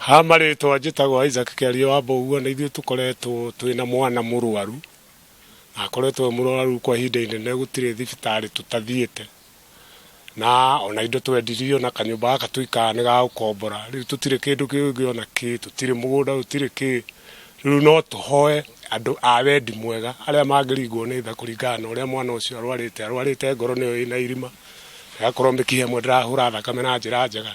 Hama rĩtwa njĩtagwo Isaac Kĩario wa Mboguo na ithuĩ tũkoretwo twĩna mwana mũrwaru na akoretwo e mũrwaru kwa ihinda inene gũtirĩ thibitarĩ tũtathiĩte na ona indo twendirio na kanyũmba gaka tũikaraga nĩ ga gũkombora rĩu tũtirĩ kĩndũ kĩngĩ ona kĩ tũtirĩ mũgũnda tũtirĩ kĩ rĩu no tũhoe andũ a wendi mwega arĩa mangĩringwo nĩ tha kũringana na ũrĩa mwana ũcio arwarĩte arwarĩte ngoro nĩyo ĩna irima ĩgakorwo mĩkiha ĩmwe ndĩrahũra thakame na njĩra njega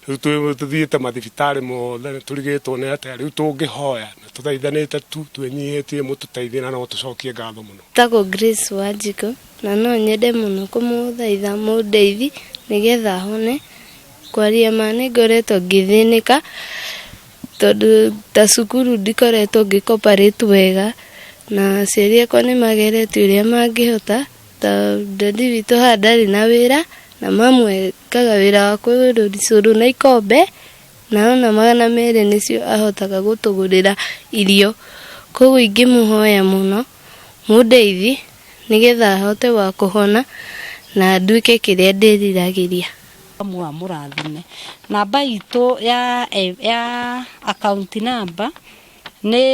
rä u tå thiä te mathibitarä mothe nä tå rigä two nä atä rä u tå ngä hoya na tå thaithanä te tu twä nyihä tie må tå teithie na no tå cokie ngatho må no Tagwo Grace Wanjiko na no nyende mũno kũmũthaitha mũndeithi nĩgetha hone kwaria ma nĩ ngoretwo ngĩthĩnĩka tondũ ta cukuru ndikoretwo ngĩ cooperate wega na aciari akwa nĩ mageretie ũrĩa mangĩhota ta dadi witũ haha ndarĩ na wĩra na mamu e- ekaga wĩra wa kũrũri cũrũ na ikombe na ona magana merĩ nĩcio ahotaga gũtũgũrĩra irio. Koguo ingĩmũhoya mũno mũndeithi nĩgetha hote wa kũhona na nduĩke kĩrĩa ndĩriragĩria. Mũa mũrathime. Namba itũ ya ya akaunti namba nĩ...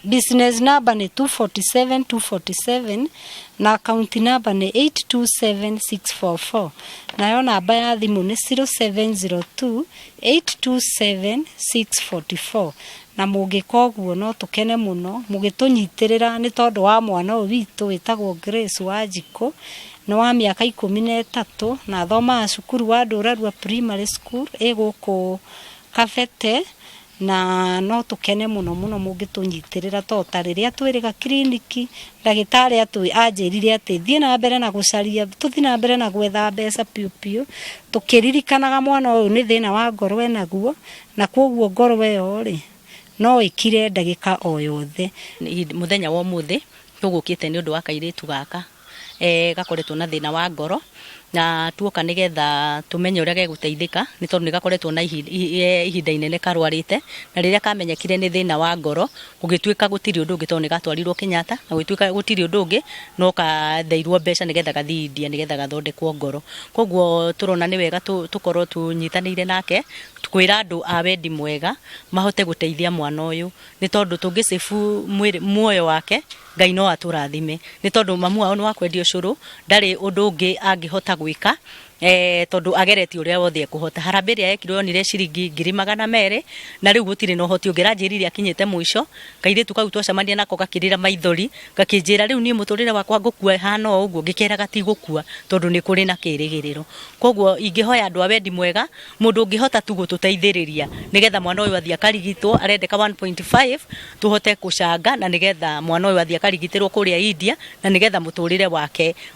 Business number nĩ 247 247 na account number nĩ 827644 nayo namba ya thimũ nĩ 0702 827644 na mũngĩka ũguo no tũkene mũno mũgĩtũnyitĩrĩra nĩ tondũ wa mwana ũyũ witũ wĩtagwo Grace Wanjikũ nĩ wa mĩaka ikũmi na ĩtatũ na athomaga cukuru wa Ndũrarua Primary School ĩ gũkũ Kabete Na no tũkene mũno mũno mũngĩtũnyitĩrĩra tondũ ta rĩrĩa twĩrĩga kiriniki, ndagĩtarĩ anjĩrire atĩ thiĩ na mbere na gũcaria, tũthiĩ na mbere na gwetha mbeca biũ biũ, tũkĩririkanaga mwana ũyũ nĩ thĩna wa ngoro e naguo, na kwoguo ngoro ĩyo-rĩ, no ĩkire ndagĩka o yothe. Mũthenya wa ũmũthĩ tũgũkĩte nĩ ũndũ wa kairĩtu gaka e, gakoretwo na thĩna wa ngoro na tuoka nĩ getha tũmenye ũrĩa gegũteithĩka nĩ tondũ nĩ gakoretwo na ihi- i- e, ihinda inene karwarĩte na rĩrĩa kamenyekire nĩ thĩna wa ngoro gũgĩtuĩka gũtirĩ ũndũ ũngĩ tondũ nĩ gatwarirwo Kenyatta na gũgĩtuĩka gũtirĩ ũndũ ũngĩ no katheirwo mbeca nĩ getha gathiĩ India nĩ getha gathondekwo ngoro koguo tũrona nĩ wega tũ- tũkorwo tũnyitanĩire nake kwĩra andũ a wendi mwega mahote gũteithia mwana ũyũ nĩ tondũ tũngĩ save mwĩrĩ- muoyo wake Ngai no atũrathime nĩ tondũ mamu wao nĩ wa kwendia ũcũrũ, ndarĩ ũndũ ũngĩ angĩhota gwĩka tondũ ageretie ũrĩa wothe ekũhota. Harambee ĩrĩa yekirwo yonire ciringi ngiri magana merĩ na rĩu gũtirĩ na ũhoti ũngĩ. Aranjĩrire akinyĩte mũico, kairĩtu kau twacemania nako gakĩrĩra maithori gakĩnjĩra rĩu niĩ mũtũrĩre wakwa ngũkua ĩhana o ũguo, ngĩkeraga ti gũkua tondũ nĩ kũrĩ na kĩrĩgĩrĩro. Kwoguo ingĩhoya andũ a wendi mwega... Mũndũ ũngĩhota tu gũtũteithĩrĩria nĩgetha mwana ũyũ athiĩ akarigitwo, arendeka 1.5 tũhote gũcanga na nĩgetha mwana ũyũ athiĩ akarigitĩrwo kũrĩa India na nĩgetha mũtũrĩre wake